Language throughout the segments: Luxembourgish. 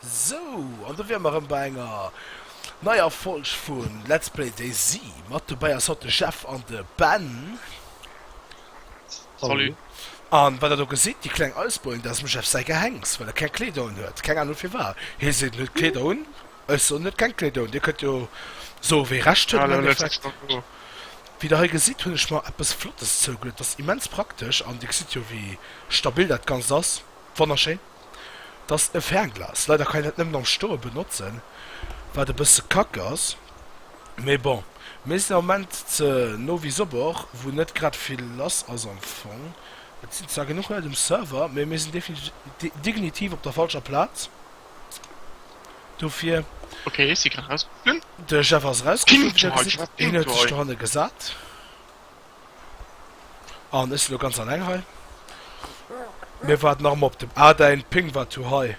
Sou, an do wäre mer erëm bei enger neier Folg vu Let's Play DayZ. Mat dobäi ass haut de Jeff an de Ben. Salut. An wat der do gesitt, déi kleng Eisbojen, dat ass dem Jeff säi Gehenks, well e keng Kleeder unhuet. Keng Ahnung firwat. Hie seet, en huet Kleeder un. Ech soen net keng Kledoun, Dir kënnt jo soe wee Recht huet am Endeffekt. Wéi der hei gesitt hunn ech mer eppes Flottes zougeluet, dat ass immens praktesch an Dir gesitt jo wéi stabil dat Ganzt ass, wonnerschéin. Dat ass e Fernglas, leider kann een dat nëmmen am Stoe benotzen, wat e bësse kack ass, mee bon, mir sinn am Moment ze Novi Sobor, wou net grad vill lass ass am Fong. Et sinn zwar genuch Leit um Server, mee mir sinn definitiv op der falscher Plaz. Dofir okay, si kann raus de Chef ass raus hanne gesat an ech lo ganz an eng hei mir wat nach op dem a dein Ping wat du hei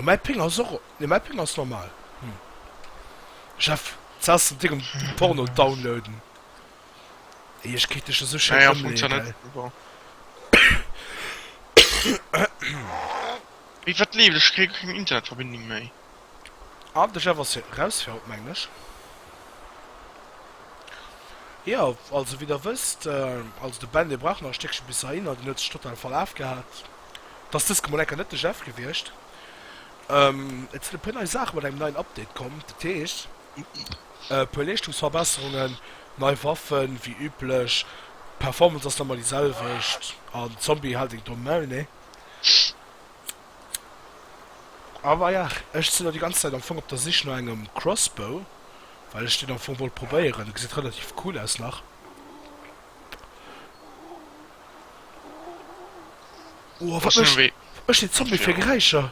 mei Ping as och de mei Ping ass normal Chef ze den Di um Porno downloaden. Ech kritt dech esou schéin ëmleeën. Ewéi wat leeft? Ech kréie keng Internetverbindung méi. An de Jeff ass jo eraus fir haut, mengen ech. Jo, also wéi der wësst, also de Ben dee brauch nach e Stéckchen bis heihinner, deen huet sech total verlaf gehat. Et ass dës Kemoul eng Kéier net de Jeff gewiescht. Et sinn e puer nei Saache mat engem neien Update komm, dat heescht. E puer Leeschtungsverbesserungen, nei Waffen, wéi üblech. D'Performance ass normal déi selwecht an Zombie haalt een domm Maul, nee. Awer ja, ech sinn elo déi ganz Zäit am Fong op der Sich no engem Crossbow, well ech deen am Fong wollt probéieren, e gesäit relativ cool aus nach. Oh, wat mécht deen Zombie fir Geräischer?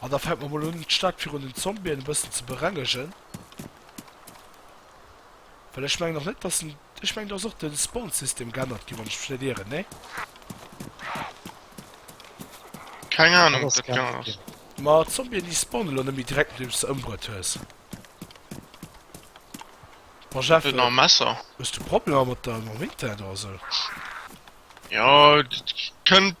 An da fänke mer mol un, d'Stad virun den Zombien e bëssen ze berengegen. Well ech mengen och net, dass en. Ech mengen, do ass och de Spawn-System geännert ginn, wann ech mech net ieren, nee? Keng Ahnung, ob dat gaangen ass. Ma d'Zombien, déi spawnen elo net méi direkt, nodeems du se ëmbruet hues. Bon, Jeff. Huet nach e Messer. Hues du Problemer mat der Winter do, oder sou? Jo, dat kënnt.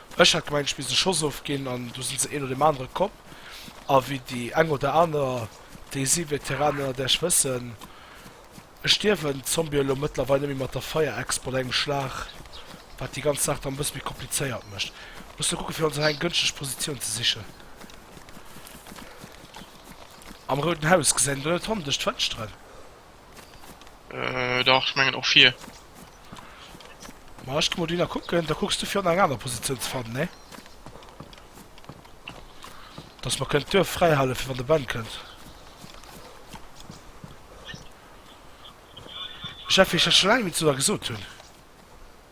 Ech hat gemengt ech misst e Schoss ofginn an du sinn se een no deem anere komm a wéi déi eng oder aner, déi si Veteranen ënnert iech wëssen, et stierwen d'Zombie elo mëttlerweil net méi mat der Fire-Exp an engem Schlag, wat déi ganz Saach dann e bësse méi komplizéiert mécht. Musse kucke fir ons nach eng gënschteg Positioun ze sichen. Am Rouden Haus gesäit een do net honndesch d'Fënschteren. Äh, dach, ech mengen och vir. Ma ech gi mol dohinner kucken, da kucks du virun eng aner Positioun ze fannen, nee? Dass mer kënnen d'Duerf fräihale fir wann de Ben kënnt. Jeff, wéi ech dat scho laang nit zu der gesot hunn.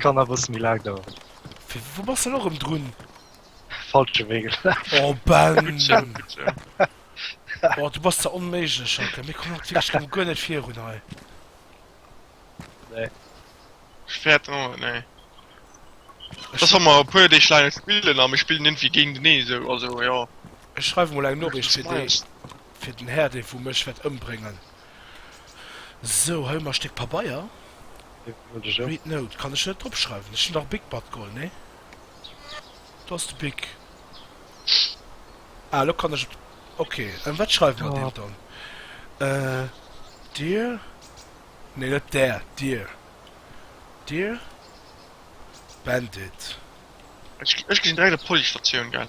Kann a bëssen méi laang daueren. Fir wou bass de lo rëm drun? Falsche Wee gelaf. Oh Ben! Oh du bass der onméiglech Jacques, mir kommen haut wierklech rëm guer net virun hei. Nee. Ech fäert en haut, nee. Ech Ech hu mer e puer Deeg laang spillen a mir spillen iergendwéi géintenee esou, also jo. ech schreiwe mol eng Noriicht fir dee, Nice. fir den Här dee wou mech wäert ëmbréngen. Sou, hei hu mer e Stéck Pabeier. Read note, kann ech net drop schreiwen. Ech hunn dach e Bic mat geholl, nee? Do ass de Bic. Ah, elo kann ech op. Ok, an wat schreiwe mer deem dann? Dir. Nee, net där, dir. Dir. Bandit. Ech ginn direkt op d'Policestatioun, gell?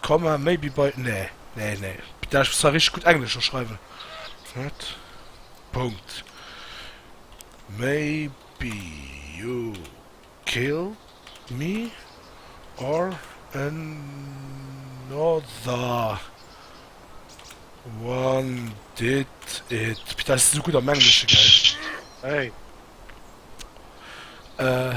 Comma maybe by nee nee nee da ech muss zwar richteg gutt englesch do schreiwen what Punkt maybe you kill me or another one did it putain ech sinn esou gutt am engleschen geil hey äh.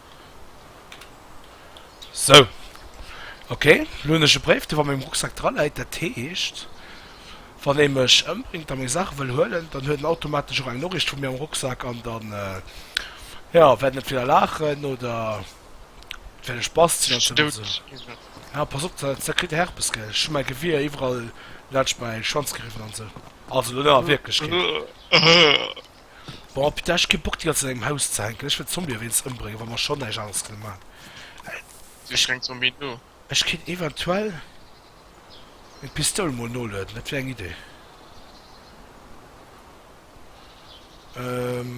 Sou. Ok, lo hunn ech e Bréif dee wa mengem Rucksack dra läit. Dat heescht, wann ee mech ëmbréngt a meng Saache wëll huelen, dann huet en automatesch och eng Noriicht vu mir am Rucksack an dann, jo, wäert en entweder laachen oder et wäert e Spass sinn. Jo, pass op, da kritt de Herpes, gell. Ech hu mäi Gewier iwwerall laanscht mäi Schwanz geriwwen an esou. Also lo net a Wierklechkeet. Bon putain ech hu kee Bock déi ganze Zäit an engem Haus ze hänken, ech wëll Zombie ewéinst ëmbréngen wa mer schon näischt aneres kënne man eh. Si schränkt Zombien no. Ech kéint eventuell meng Pistoul mol nolueden, dat wier eng Idee ehm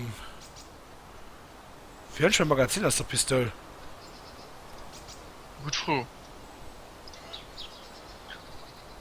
wéi hunn ech mäi Magazin aus der Pistoul? Gutt Fro.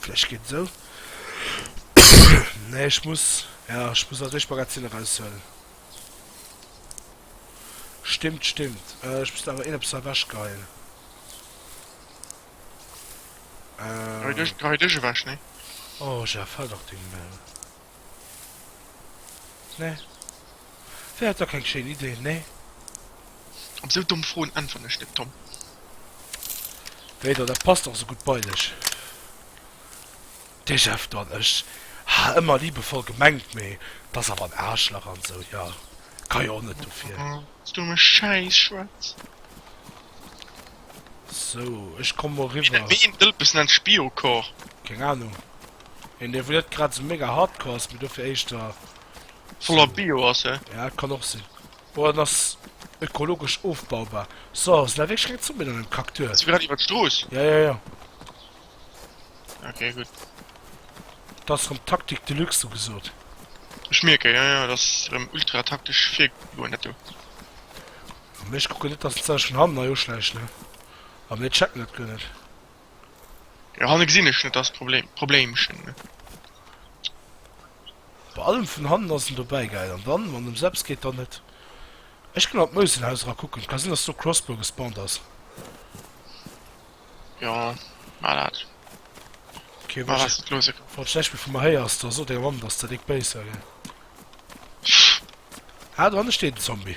Vläicht geet et esou. Nee, ech muss, jo, ech muss nach Dëschmagazin eraushuelen. Stimmt, stimmt. Ech muss awer een eppes ewechgeheien. Hei dech, hei dech ewech, nee. Oh, Jeff, hal dach deng Mail. Nee. Dir hat dach keng schéin Ideen, nee? Op esou domm Froen äntweren ech net, Tom. Wéi dann, dat passt och esou gutt bei dech. Dee Jeff dann, ech ha ëmmer liebevoll gemengt, mee dat ass awer en Aarschlach an esou, jo, ka jo och net dofir. S, Du dumme Schäisschwätz! Sou, ech komm mol riwwer. Wéi een Dëlpes nennt Spio-Corps? Keng Ahnung. Een dee wou net grad sou mega hardcore ass mee dofir éischter Voller Bio ass he. Ja et kann och sinn. Oder en ass ökologesch ofbaubar. So sinn dat wierklech keng Zombien an dem Kack Duerf? Ass e grad iwwer d'Strooss? Ja ja ja. Ok gutt. Dat ass rem Taktik de luxe sou gesoot. Ech mierken, jo jo, et ass rem ultra taktesch virgegoen dat do. Mee ech kucken net dass en sech vun hannen hei uschläicht ne? A mir checken dat guer net. Jo hanne gesin ech net das Problemchen. Bei allem vun hannen ass en dobäi gäil an dann wann ems eppes geet dann net. Ech gin an d'Mousenhaus era kucken, ka sin dass do Crossbow gespawnt ass. Jo maach dat, maach wat s de d'loosse kanns. Wann s de näischt méi vu mer héiers, da so denger Mamm dass der déck béis war gell. Ah do hanne steet en Zombie.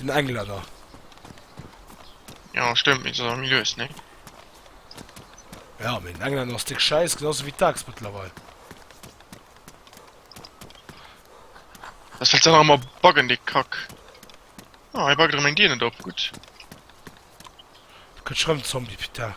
Den Engländer. Ja, stimmt, mit so mir löst, ne? Ja, mit Engländer ist dick Scheiß, genauso wie Tax mittlerweile. Das wird dann auch mal backen, dick Kack. Ah, oh, ich backe mein Dir nicht ab, gut. Könnt schreiben Zombie, Peter.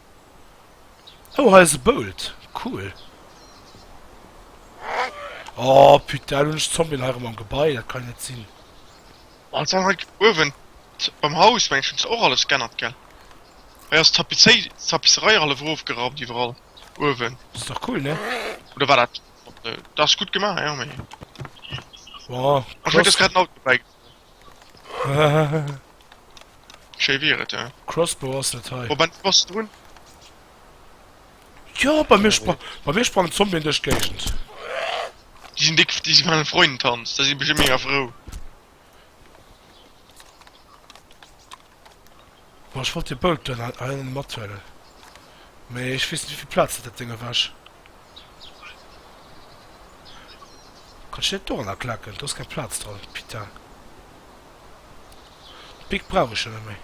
Oh hei ass e Bolt, cool. Oh putain, hunn ech d'Zombien hei erëm am Gebai, dat kann jo net sinn. An dann hei uewen beim Haus mengen ech hunn se och alles g'ännert gell? Hei ass d'Tapisserei hallef erofgeraumt iwwerall uewen. Ass dach cool ne? Oder war dat, dat ass gutt gemaach jo mee. Bon, ech mengen et ass grad en Auto dobäi. Schéi wier et, ja. Crossbow ass dat hei. Op en Post drun. Jo, bei mir spra bei mir sprangen Zombien duerch d'Géigend. Déi sinn déck, déi si fannen Freundentanz, da si bestimmt mega frou. Bon, ech wollt dee Bolt do hei mathuelen, mee ech weess net, wéivill Plaz dat dat Ding erwech. Kann ech deen net dorënner klaken? Do ass keng Plaz dran, putain. D'Pick brauch ech jo net méi.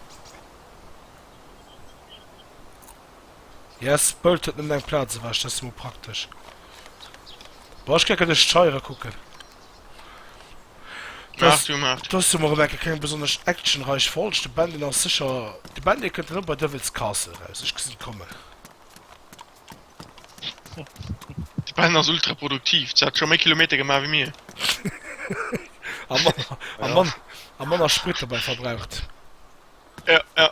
Yes, d'Bolt huet nëmmen eng Plaz ewech, dat ass jo mol praktesch. Bon, ech geck ech d'Scheiere kucken. Maach du, maach du. Dës Summer erëm eng Kéier keng besonnesch actionreich Folg. De Ben, deen ass sécher, de Ben, dee kënnt erëm bei Devil's Castle eraus, ech gesinn et kommen. De Ben ass ultra produktiv, se hat scho méi Kilometer gemaach wéi mir. A manner, a manner, a manner Sprit dobäi verbraucht. Ja, ja.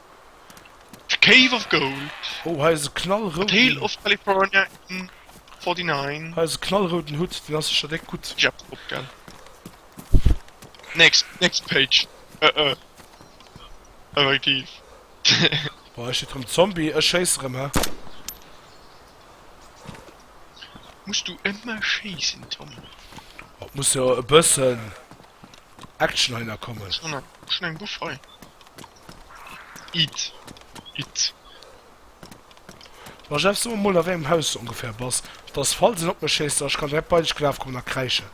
The Cave of Gold. Oh hei ass e knallrouden. The Tale of California in 49. Hei ass e knallrouden Hutt, deen ass sécher déck gutt. Ech app drop gell. Next, next page uh uh effektiv. Boah hei steet rem Zombie, ech schéisse rem he. Muss du ëmmer schéissen Tom? Oh et muss jo e bëssen Action hei na kommen. Schon eng Buff hei. It. It. Ma Jeff, so mer mol a wéi engem Haus s ongeféier bass, dass falls een op mech schéisst, dass ech kann direkt bei dech gelaf kommen a kräischen.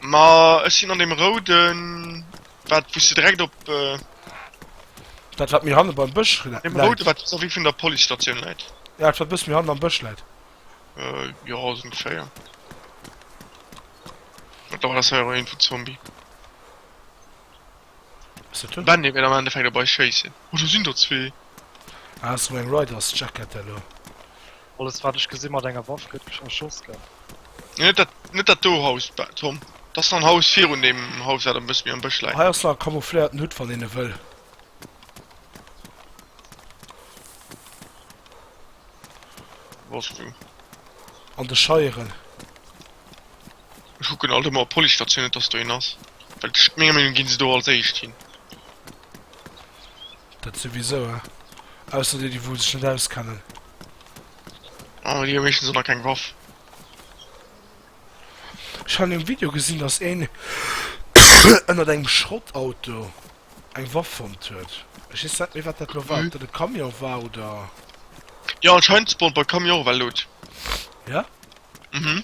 Ma ech sinn an deem rouden, wat wou s de direkt op. Dat wat méi hanne beim Bësch läit. Deem rouden, wat vis-à-vis vun der Policestatioun läit. Ja, dat wat e bësse méi hannen am Bësch läit. Jo, sou ongeféier. Dat ass hei awer een vun Zombie. Ass dat hien? Benny wéilt am Endeffekt op eis schéissen. Oh do sinn der zwee. Ah ass sou eng Riders Jacket elo. Alles wat ech gesinn mat enger Waff gëtt erschoss gell? Nee net dat net dat do Haus Tom, dat ass nach en Haus virun deem Haus wat e bësse méi am Bësch läit. Hei ass nach e camoufléierten Hutt wann een e wëll. Wosst du. An de Scheieren. Ech kucken alt ëmmer op Policestatioun, net dass do een ass, well menger Meenung ginn se do als éischt hin. Dat souwisou, eh? Ausser déi, déi wou sech net auskennen. Ah, déi hu meeschtens och nach keng Waff. Ech han um Video gesinn, dass een ënnert engem Schrottauto eng Waff fonnt huet. Ech weess net méi, wat dat lo war, ob dat e Camion war oder. Jo, anscheinend spawnt bei Camion och ewell Loot. Ja? Mhm.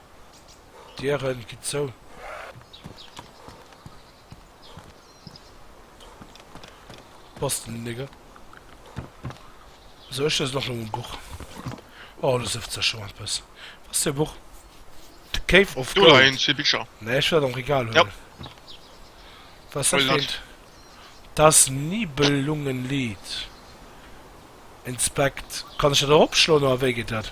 D'Dieren ginn zou. Bastelen Nigger. Esou ech lesen och nëmmen Buch. Oh lo sëfft se scho eppes. Was fir Buch? The Cave of Gold. Do leien zwee Bicher. Nee ech well am Regal huelen. Yep. Was dat fir eent? Das Nibelungenlied. Inspect. Kann ech dat eropschloen oder wéi geet dat?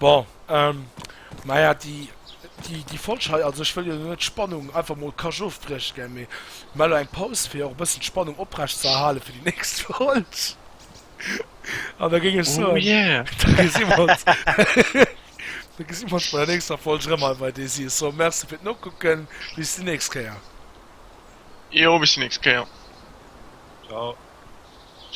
Bon, ähm, maja, déi, déi, déi Folg hei, also ech wëll jo net d'Spannung einfach mol kasch ofbrieche gell, mee mer elo eng Paus, fir och e bëssen d'Spannung oprecht ze erhale fir déi nächst Folg. An da géing ech soen, da gesi mer ons, da gesi mer ons bei der nächster Folg erëm hei bei Desi. Ech soe Merci fir d'Nokucken, bis déi nächst Kéier. Jo, bis déi nächst Kéier. Ciao.